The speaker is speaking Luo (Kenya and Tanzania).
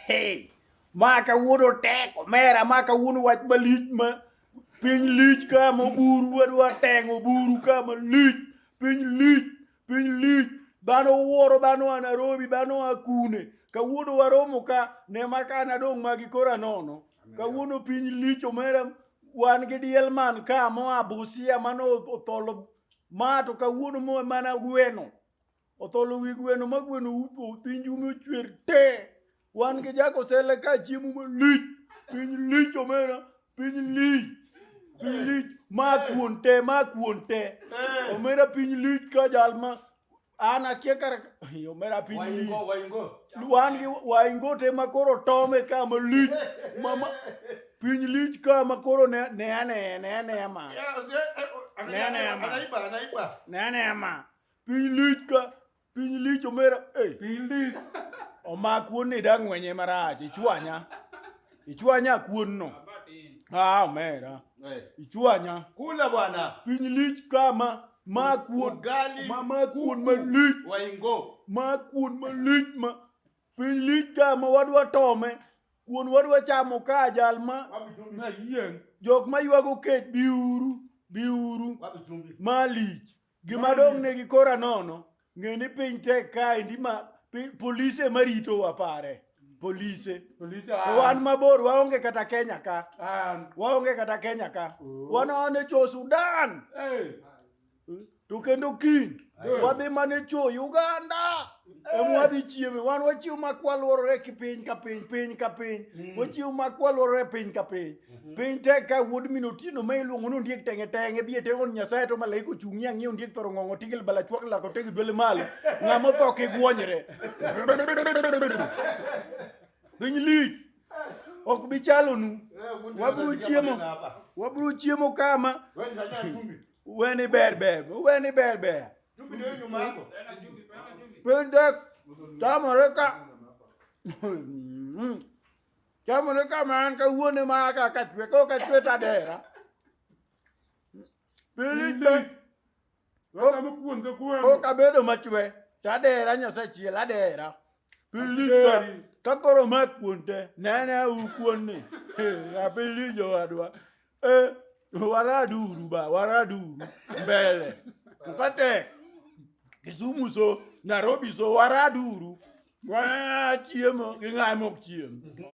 Hey, ma kawuono tek omera, ma kawuono wach malich ma piny lich ka ma buru wadwa teng'o buru ka ma lich, piny lich, piny lich. Dhano wuoro, dhano a Nairobi, dhano a kune. Kawuono waromo ka, ne ma ka nadong' magi kora nono. Kawuono piny lich omera, wan gi diel man ka moa Busia mano otholo ma to kawuono mo mana gweno. Otholo wi gweno ma gweno utho uthinji ume ochwer te. Wan gi jako sele ka chiemo malich. Piny lich omera. Piny lich. Piny lich. Ma kuon te, ma kuon te. Omera piny lich ka jal ma an akia kar omera piny lich. Waingo, waingo. Wan gi waingo te ma koro tome ka ma lich. Ma ma piny lich ka ma koro ne ne ne ne ne ma. Yeah, yeah, eh, oh, Nene, anaiba, ama. anaiba, anaiba. Ne ne ma. Piny lich ka, piny lich omera. Hey. Piny lich. Omak wuon ni dang' wenye marach, ichwanya. Ichwanya kuon no. Ah, omera. Hey. Ichwanya. Kula bwana. Piny lich kama. Ma kuon. Ugali. Ma ma kuon ma lich. Waingo. Ma kuon ma lich ma. Piny lich kama wadwa tome. Kuon wadwa chamo ka jal ma. Jok ma ywago kech biuru. Biuru. Malich. Gima dong' ne gi kora nono, ng'e ni piny tek kae ndi ma pi- polise ma rito wa pare. Polise. Polise To an. wan mabor, waonge kata Kenya ka. An. Waonge kata Kenya ka. Oh. Wan ane cho Sudan. Hey. To kendo kiny, Good. wadhi mane cho Uganda. emwadhi chieme wan wachiwo mak waluorore ki piny ka piny piny ka piny mm. wachiwo mak waluorore piny ka piny mm-hmm. piny tek ka wuod min otieno ma iluongo ni ondiek tenge tenge bi ete on nyasaye to malaika ochung'i ang'e ondiek thoro ng'ong'o tigil bala chwak lako tegi dwele malo ng'ama otho kigwonyre piny lich ok bi chalonu wabiro chiemo wabiro chiemo kama weni ber ber weni ber ber Chumvi ndio nyuma yako. Tena chumvi, tena chumvi. Pende chamoreka. Chamoreka man ka wuone ma ka ka chwe ko ka chwe ta dera. Pili de. Wata mo kuon ka kuon. Ko ka bedo machwe ta dera nyasa chiel adera. Pili de. Ka koro ma kuonte nene u kuonni. Apili jo adwa. Eh, waraduru ba waraduru mbele mkate Kisumu so Nairobi so waraduru wana chiemo gi ng'ae mok chiemo